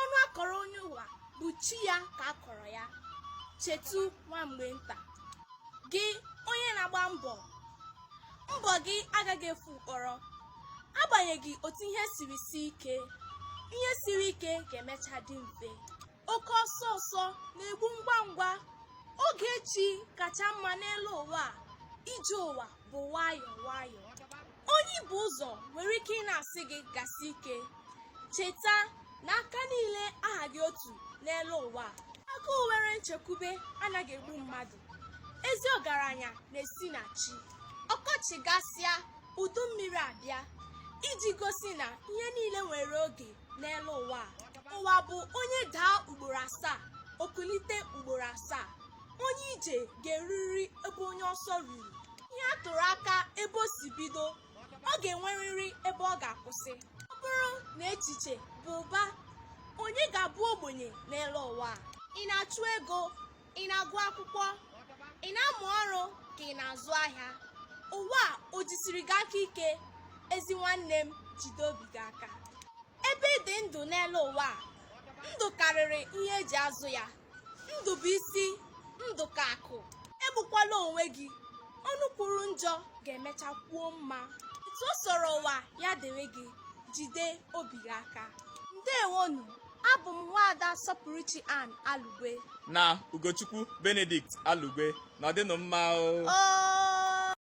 ọnụ a kọrọ onye ụwa bụ chi ya ka a kọrọ ya chetu nwa mgbe nta gị onye na-agba mbọ mbọ gị agaghị efu mkpọrọ agbanyeghị otu ihe siri sie ike ihe siri ike ga-emecha dị mfe oke ọsọ ọsọ na-egbu ngwa ngwa oge chi kacha mma n'elu ụwa a. ije ụwa bụ nwayọọ nwayọọ onye bu ụzọ nwere ike ịna-asị gị gasie ike cheta na aka niile ahaghị otu n'elu ụwa a agụụ nwere nchekwube anaghị egbu mmadụ ezi ọgaranya na-esi na chi ọkọchị gasịa udu mmiri abịa iji gosi na ihe niile nwere oge n'elu ụwa a ụwa bụ onye daa ugboro asaa o kulite ugboro asaa onye ije ga-erurịrị ebe onye ọsọ ruru ihe a tụrụ aka ebe o si bido ọ ga-enwerịrị ebe ọ ga-akwụsị ọ bụrụ na echiche bụ ụba onye ga-abụ ogbenye n'elu ụwa a? ị na-achụ ego ị na-agụ akwụkwọ ị na-amụ ọrụ ka ị na-azụ ahịa ụwa a o jisiri gị aka ike ezi nwanne m jide obi gị aka ebe ị dị ndụ n'elu ụwa a ndụ karịrị ihe e ji azụ ya ndụ bụ isi ndụ ka akụ egbukwala onwe gị ọnụ kwuru njọ ga-emecha kwuo mma etu ọ sọrọ ụwa ya dịrị gị jide obi gị aka ndewonụ abụ m nwaada sọpụrụchi ann alugwe na ugochukwu benedict alugwe nọdịnụ mma o oo